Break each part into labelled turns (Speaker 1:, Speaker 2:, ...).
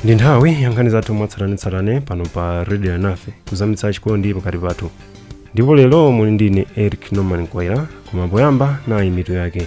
Speaker 1: ndi nthawi yankhani zathu mwatsatanetsatane pano pa radio anafe kuzamitsa chikondi pakati pathu ndipo lero muli ndi ine eric norman mkwaira koma poyamba nayi mitu yake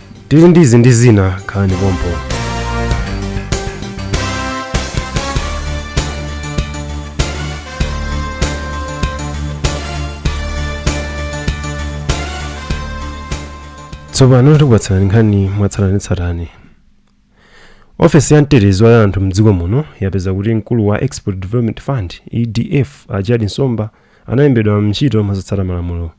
Speaker 1: tili ndi izi ndi zina khalani pompo tsopano tikupatsirani nkhani mwatsatanetsatane ofesi ya mtetezi wa anthu mdziko muno yapeza kuti mkulu wa export development fund edf a gerald nsomba analembedwa ntchito mosatsata malamulo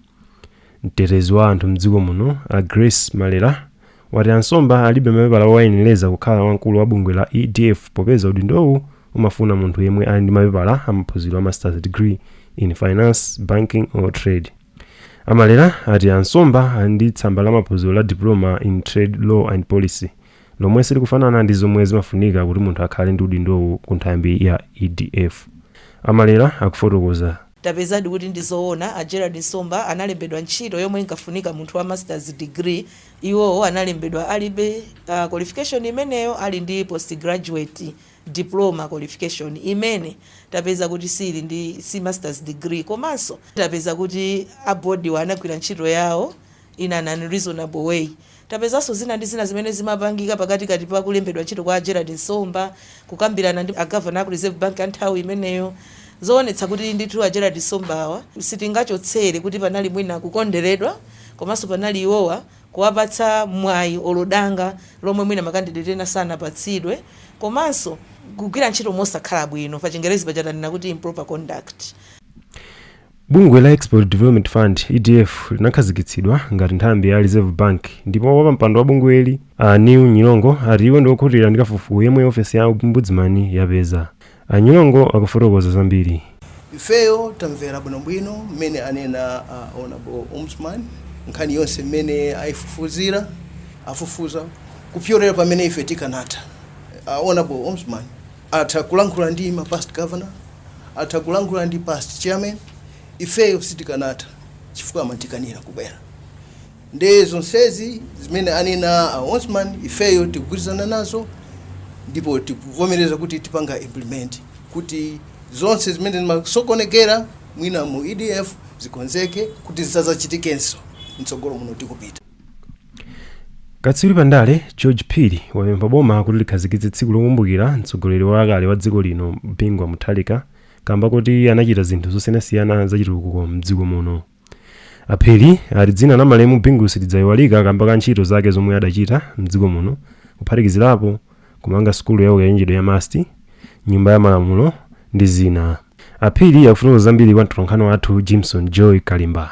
Speaker 1: Mtetezi wa anthu m'dziko muno a Grace Malera wati a Nsomba alibe mapepala owayenereza kukhala wamkulu wa bungwe la EDF popeza udindowu umafuna munthu yemwe ali ndi mapepala a maphunziro a Masters Degree in Finance, Banking or Trade. A Malera ati a Nsomba ali ndi tsamba la maphunziro la Diploma in Trade Law and Policy lomwe silikufanana ndi zomwe zimafunika kuti munthu akhale ndi udindowu ku nthambi ya EDF. A Malera akufotokoza Tapezadi kuti
Speaker 2: ndi zoona, a Gerald Nsomba analembedwa ntchito yomwe inkafunika munthu wa Masters Degree, iwowo analembedwa alibe qualification imeneyo ali ndi Postgraduate Diploma qualification imene tapeza kuti si Masters Degree komanso tapeza kuti a Board-wa anagwira ntchito yawo in an unreasonable way. Tapezanso zina ndi zina zimene zimapangika pakatikati pa kulembedwa ntchito kwa a Gerald Nsomba, kukambirana ndi a Governor aku Reserve Bank a nthawi imeneyo, zoonetsa kuti ndithu a Gerald Nsombawa sitingachotsere kuti panali mwina kukonderedwa komanso panali iwowa kuwapatsa mwayi olo danga lomwe mwina ma candidate ena sanapatsidwe komanso kugwira ntchito mosakhala bwino, pachingerezi paja tanena kuti improper conduct.
Speaker 1: Bungwe la Export Development Fund, EDF, linakhazikitsidwa ngati nthambi ya Reserve Bank ndipo wapampando wa bungweli, a Neil Nyirongo, ati iwo ndi okhutira ndi kafukufuku yemwe ofesi ya ombudzimani yapeza. A Nyirongo akufotokoza zambiri.
Speaker 3: Ifeyo tamvera bwinobwino mmene anena a Hon. Ombudsman, nkhani yonse mmene ayifufuzira, afufuza kupyolera pamene ife tikanatha. A Hon. Ombudsman, Atha kulankhula ndi ma past governor, atha kulankhula ndi past chairman, ifeyo sitikanatha chifukwa amatikanira kubwera. Nde zonsezi zimene anena a Ombudsman ifeyo tikugwirizana nazo ndipo tikuvomereza kuti tipanga implement kuti zonse zimene zimasokonekera mwina mu EDF zikonzeke kuti zisazachitikenso mtsogolo muno tikupita.
Speaker 1: katswiri pa ndale george phiri wapempha boma kuti likhazikitse tsiku lokumbukira mtsogoleri wakale wa dziko lino bingu wa mutharika kamba kuti anachita zinthu zosiyanasiyana zachitukuko mdziko muno aphiri ati dzina la malemu bingu silidzayiwalika kamba ka ntchito zake zomwe adachita mdziko muno kuphatikizirapo kumanga sukulu ya ukachenjede ya must nyumba ya malamulo ndi zina aphiri akufotokoza zambiri kwa mtolankhani wathu jimson joy kalimba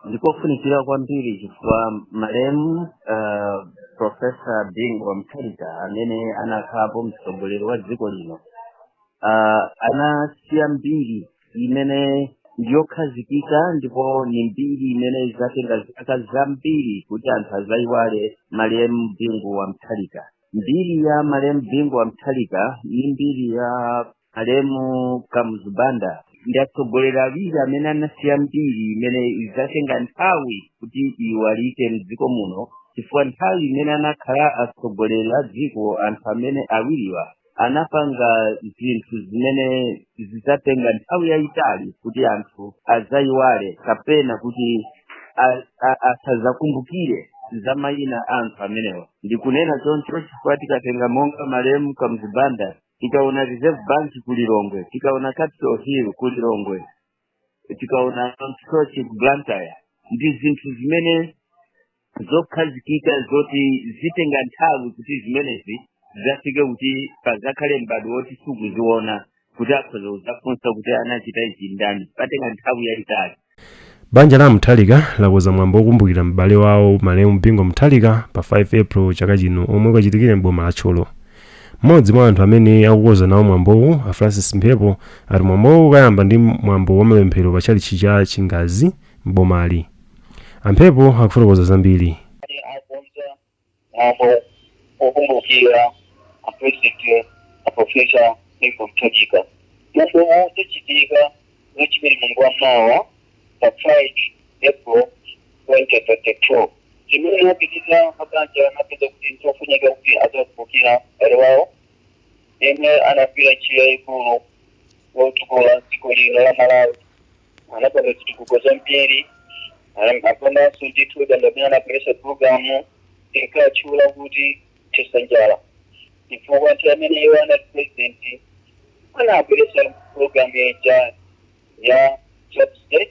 Speaker 4: ndikofunikira kwambiri chifukwa malemu uh, profesa bingu wa mutharika amene anakhalapo mtsogoleri wa dziko lino uh, anasiya mbiri imene ndiyokhazikika ndipo ni mbiri imene izatenga zaka zambiri kuti anthu azayiwale malemu bingu wa mutharika mbiri ya malemu bingu wa mutharika ndi mbiri ya malemu kamuzu banda ndi atsogoleri awiri amene anasiya mbiri imene idzatenga nthawi kuti iyiwalike mdziko muno chifukwa nthawi imene anakhala atsogoleri a dziko anthu amene awiriwa anapanga zinthu zimene zidzatenga nthawi yayitali kuti anthu adzayiwale kapena kuti a- a- asadzakumbukire za mayina a anthu amenewa ndikunena choncho chifukwa tikatenga monga malemu kamuzu banda tikaona reserve bank ku lilongwe tikaona capital hill ku lilongwe tikaona msochi ku blantyre ndi zinthu zimene zokhazikika zoti zitenga nthawi kuti zimenezi zizafike kuti pazakhale mbadwo woti sukuziona kuti akhoza kuzafunsa kuti anachita izi ndani patenga nthawi yayitali banja
Speaker 1: la mutharika lakonza mwambo wokumbukira m'bale wawo malemu bingu mutharika pa 5 april chaka chino omwe ukachitikire m'boma la thyolo mmodzi mwa anthu amene akukonza nawo mwambowu a francis mphepo ati mwambowu ukayamba ndi mwambo wa mapemphero pa tchalitchi cha chingazi m'bomali a mphepo akufotokoza zambiri akonza
Speaker 5: mwambo wokumbukira apulezidenti aprofesa Bingu Mutharika. Mwambo uwu udzachitika Lachiwiri mlungu wa mawa pa 5 April 2022. Chimene apabanja anapeza kuti nchofunika kuti adzakumbukira mbale wawo yemwe anagwira ntchito yayikulu yotukula dziko lino la Malawi. anapanga zitukuko zambiri Ana- apanganso ndithu ndi amene anabweretsa programu inkatchula kuti thetsa njala chifukwa nthawi imene iwo anali president anabweretsa programu ija ya subsidy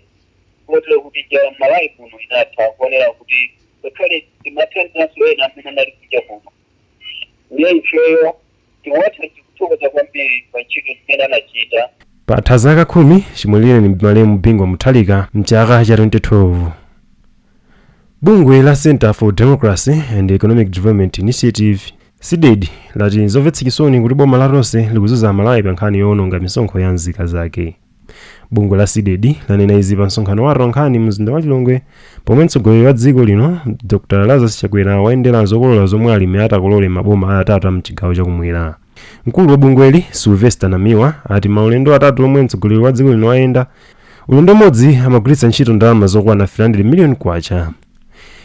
Speaker 5: kotero kuti njala mmalawi kuno inatha kotero kuti ngakhale timathandizanso ena amene anali kunja kuno Ndiye ifeyo tiwatha tikuthokoza kwambiri pa ntchito zimene anachita. Patha zaka
Speaker 1: khumi chimwalireni malemu Bingu wa Mutharika mchaka cha 2012. Bungwe la Centre for Democracy and Economic Development Initiative CDEDI lati nzomvetsa chisoni kuti boma la Tonse likuzunza Amalawi pa nkhani yoononga misonkho ya nzika zake. bungwe la cdedi lanena izi pa msonkhano wa atolankhani mzinda wa lilongwe pomwe mtsogoleri wa dziko lino dr lazarus chakwera wayendera zokolola zomwe alimi atakolole maboma atatu mchigawo chakumwera mkulu wa bungweli sylvester namiwa ati maulendo atatu omwe mtsogoleri wa dziko lino wayenda ulendo umodzi amagwiritsa ntchito ndalama zokwana 300 million kwacha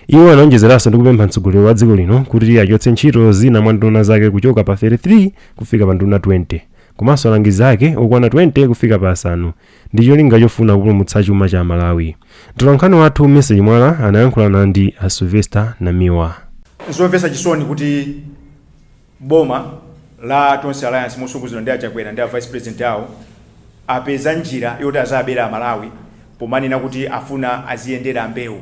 Speaker 1: iwo anaonjezeranso ndi kupempha mtsogoleri wa dziko lino kuti achotse ntchito zina mwa nduna zake kuchoka pa 33 kufika pa nduna 20 komanso alangizi ake okwana 20 kufika pa asanu ndi cholinga chofuna kupulumutsa chuma cha Malawi. Mtolankhani wathu Mercy Chimwala anayankhulana ndi a Sylvester Namiwa. zomvetsa
Speaker 6: chisoni kuti boma la tonse alliance motsogozedwa ndi a Chakwera ndi a vice president awo apeza njira yoti azabera amalawi pomanena kuti afuna aziyendera mbewu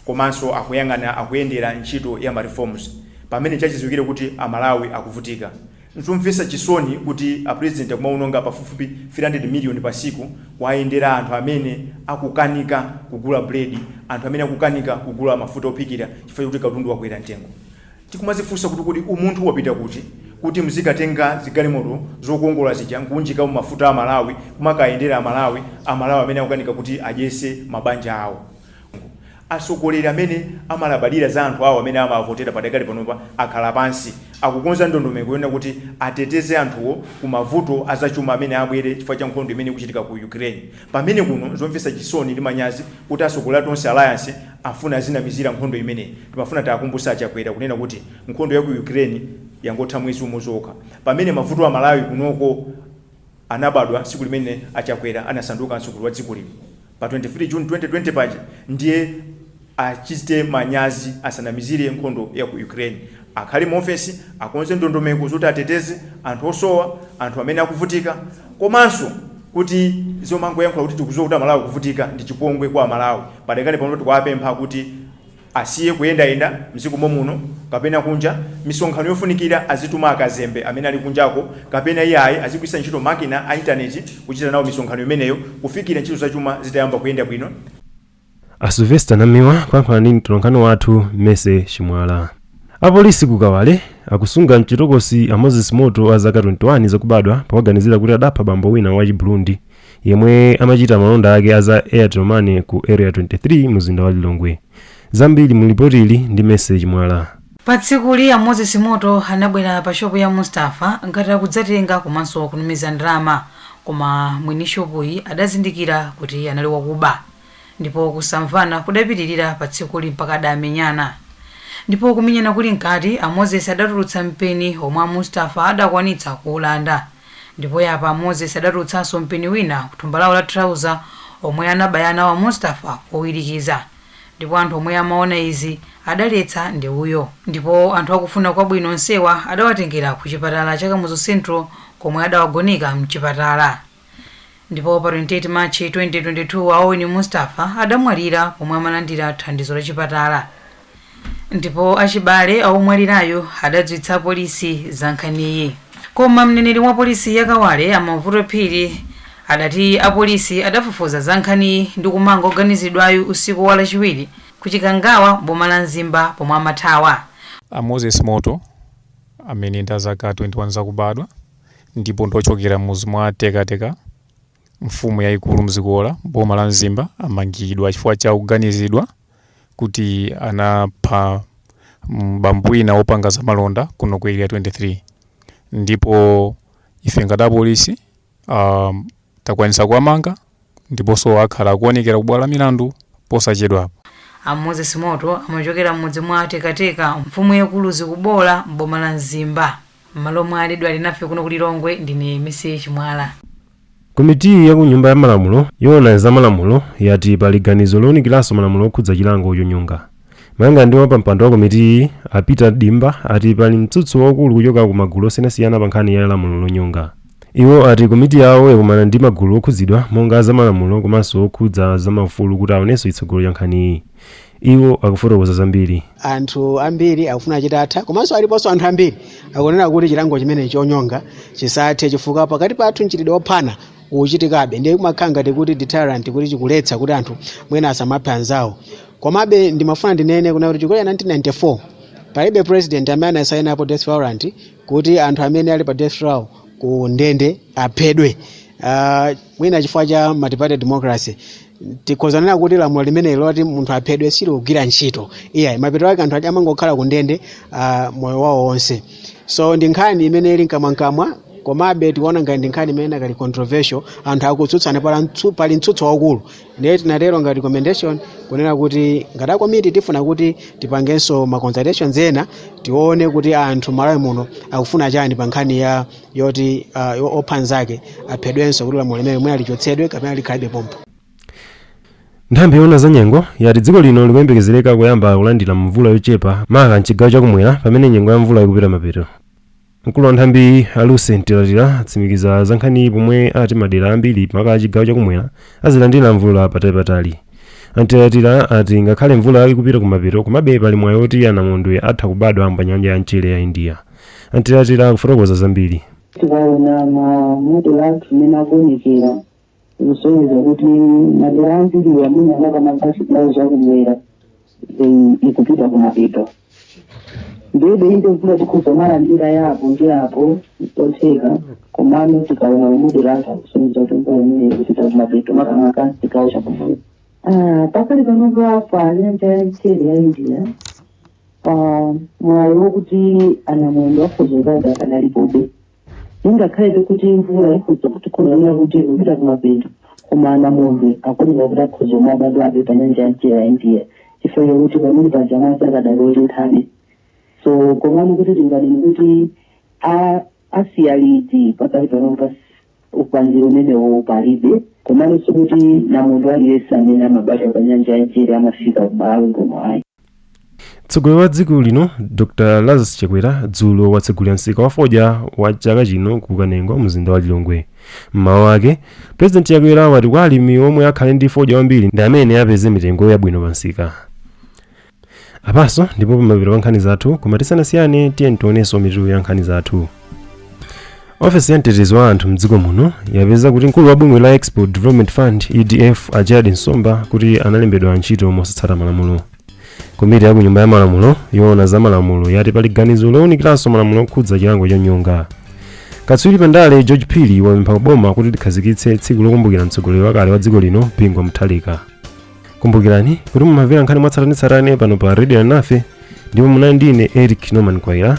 Speaker 6: komanso akuyang'ana akuyendera ntchito ya ma reforms pamene chachidziwikire kuti amalawi akuvutika N'zomvetsa chisoni kuti apulezidenti akumawononga pafupifupi 300 miliyoni patsiku kuwayendera anthu amene akukanika kugula buledi, anthu amene akukanika kugula mafuta ophikira chifukwa chakuti katundu wakwera mtengo. Tikumadzifunsa kuti, kodi umunthu wapita kuti, kuti muzikatenga zigalimoto zokongola zija n'kuunjikamo mafuta a Malawi kumakayendera Amalawi, Amalawi amene akukanika kuti adyetse mabanja awo? Atsogoleri amene amalabadira za anthu awo amene amawavotera padakali panopa akhala pansi. Akukonza ndondomeko yonena kuti ateteze anthuwo ku mavuto a zachuma amene abwere chifukwa cha nkhondo imene ikuchitika ku Ukraine. Pamene kuno, n'zomvetsa chisoni ndi manyazi kuti atsogoleri a Tonse Alliance afuna azinamizira nkhondo imeneyi. Timafuna tiakumbutse a Chakwera kunena kuti nkhondo ya ku Ukraine yangotha mwezi umodzi okha pamene mavuto a Malawi kunoko. anabadwa tsiku limene a Chakwera anasanduka mtsogoleri wa dziko lino pa 23 June 2020 paja ndiye achite manyazi asanamizire nkhondo ya ku Ukraine. Akhale mu ofesi akonze ndondomeko zoti ateteze anthu osowa, anthu amene akuvutika komanso kuti zomangoyankhula kuti tikudziwa kuti a Malawi akuvutika ndi chipongwe kwa a Malawi. Padakali pano tikuwapempha kuti Asiye kuyendayenda mdziko momuno kapena kunja, misonkhano yofunikira azituma akazembe amene ali kunjako kapena iyayi azigwiritsa ntchito makina a intaneti kuchita nawo misonkhano imeneyo kufikira ntchito zachuma zitayamba kuyenda bwino.
Speaker 1: A Sylvester Namiwa kuyankhula ndi mtolankhani wathu Mercy Chimwala. Apolisi ku Kawale akusunga mchitokosi a Moses Moto a zaka 21 zakubadwa powaganizira kuti adapha bambo wina wachi Burundi yemwe amachita malonda ake a za Airtel Money ku Area 23 muzinda wa Lilongwe. Zambiri mu lipotili ndi Mercy Chimwala. Pa tsikuli
Speaker 7: a Moses Moto anabwera pa shopu ya Mustafa ngati akudzatenga komanso kutumiza ndalama koma mwini shopuyi adazindikira kuti anali wakuba ndipo kusamvana kudapitirira pa tsikuli mpaka adamenyana ndipo kumenyana kuli mkati a Moses adatulutsa mpeni omwe a Mustafa adakwanitsa kuulanda Ndipo yapa Moses adatulutsanso mpeni wina kuthumba lawo la trouser omwe anabaya nawo a Mustafa mowirikiza ndipo anthu omwe amaona izi adaletsa ndewuyo ndipo anthu akufuna kwabwino onsewa adawatengera ku chipatala cha Kamuzu Central komwe adawagoneka mchipatala. Ndipo pa 28 March 2022 a Owen Mustafa adamwalira pomwe amalandira thandizo la chipatala ndipo achibale a womwalirayu adadziwitsa apolisi za nkhaniyi. Koma mneneri wa polisi ya Kawale a Mavuto Phiri adati apolisi adafufuza za nkhaniyi ndi kumanga woganiziridwayu usiku wa Lachiwiri ku Chikangawa m'boma la Mzimba pomwe amathawa. A Moses
Speaker 8: Moto amene ndi a zaka 21 zakubadwa. ndipo ndi ochokera m'mudzi mwa Tekateka, mfumu yaikulu Mzikubola m'boma la Mzimba amangidwa chifukwa cha kuganizidwa kuti anapha bambo wina wopanga zamalonda kuno ku Area 23 ndipo ife ngati apolisi ah, takwanitsa kuwamanga. ndiponso akhala akuonekera ku bwalo la milandu posachedwapa. A
Speaker 7: Moses Moto amachokera m'mudzi mwa Tekateka, mfumu yaikulu Mzikubola m'boma la Mzimba. M'malo mwa Aledwa Alinafe kuno ku Lilongwe, ndine Mercy Chimwala.
Speaker 1: Komiti ya ku Nyumba ya Malamulo yoona za malamulo yati pali ganizo lounikiranso malamulo okhudza chilango chonyonga. Malingana ndi wapampando wa komitiyi, a Peter Dimba, ati pali mtsutso waukulu kuchoka ku magulu osiyanasiyana pa nkhani ya lamulo lonyonga. Iwo ati komiti yawo yakumana ndi magulu okhudzidwa monga a zamalamulo komanso okhudza za maufulu kuti aonenso chitsogolo cha nkhaniyi. Iwo akufotokoza zambiri. anthu
Speaker 9: ambiri akufuna chitatha komanso aliponso anthu ambiri akunena kuti chilango chimenechi chonyonga chisathe chifukwa pakati pathu mchitidwe ophana ukuchitikabe ndiye kumakhala ngati kuti deterrent kuti chikuletsa kuti anthu mwina asamaphe anzawo Komabe ndimafuna ndinene kunena kuti chichokere 1994 palibe president amene anasainapo death warrant kuti anthu amene ali pa death row ku ndende aphedwe. Uh, mwina chifukwa cha multiparty democracy tikhoza kunena kuti lamulo limeneli loti munthu aphedwe silikugwira ntchito iyayi mapeto ake anthu aja amangokhala ku ndende uh, moyo wawo wonse so ndi nkhani imene ili mkamwamkamwa komabe tikuona ngati ndi nkhani imene inakali controversial anthu akutsutsana pala mtsu- pali mtsutso waukulu ndiye tinatero ngati recommendation kunena kuti ngati akomiti tifuna kuti tipangenso ma consultations ena tione kuti anthu malawi muno akufuna chani pa nkhani ya yoti uh, yo- opha nzake aphedwenso kuti lamulo limeneli mwina lichotsedwe kapena likhalebe
Speaker 1: pompo nthambi yoona za nyengo yati dziko lino likuyembekezereka kuyamba kulandira mvula yochepa maka mchigawo chakumwera pamene nyengo ya mvula ikupita mapeto Mkulu wa nthambiyi a Lucy Mtilatila atsimikiza za nkhaniyi pomwe ati madera ambiri maka a chigawo chakumwera azilandira mvula patalipatali. A Mtilatila ati ngakhale mvula ikupita kumapeto komabe pali mwayi woti anamondwe atha kubadwa pa nyanja ya mchere ya India. A Mtilatila akufotokoza zambiri. tikaona ma
Speaker 10: model athu mmene akuonekera kusonyeza kuti madera ambiri amene makamaka chigawo chakumwera ikupita kumapeto ndiye ndi mvula tikhoza malandira ya apo ndi apo yotheka komano tikaona ma model athu akusonyeza kuti mvula imene ikupita kumapeto makamaka chigawo chakumwera Ah, pakali panopa pa nyanja ya mchere ya india ah, mwayi wokuti anamondwe akhoza kubadwa akadalipobe ingakhalebe kuti mvula ikhoza kuti kuoneka kuti ikupita kumapeto koma anamondwe akuoneka kuti akhoza kumabadwabe pa nyanja ya mchere ya india chifukwa chakuti pamene panyanja madzi akadali otenthabe so komano kuti tinganene kuti a- asiya liti pakali panopa upangiri umenewo palibe komano sikuti namondwe aliyense amene amabadwa pa nyanja ya mchere amafika kumalawi kuno ayi
Speaker 1: mtsogoleri wa dziko lino dr lazarus chakwera dzulo watsegulira msika wa fodya wa chaka chino ku kanengo mumzinda wa lilongwe mmawu ake purezidenti chakwera wati kuti alimi omwe akhale ndi fodya wambiri ndi amene apeze mitengo yabwino pa msika apanso ndi pamapeto pa nkhani zathu koma tisanasiyane tiyeni tionenso mitu ya nkhani zathu ofesi ya mtetezi wa anthu mdziko muno yapeza kuti mkulu wa bungwe la export development fund edf a gerald nsomba kuti analembedwa ntchito mosatsata malamulo komiti ya ku nyumba ya malamulo yoona za malamulo yati pali ganizo lowunikiranso malamulo okhudza chilango chonyonga katswiri pa ndale george phiri wapempha kuboma kuti likhazikitse tsiku lokumbukira mtsogoleri wakale wa dziko lino bingu wa mutharika kumbukirani kuti mumamvera nkhani mwatsatanetsatane pano pa radio nafe ndipo munali ndine eric norman kwaira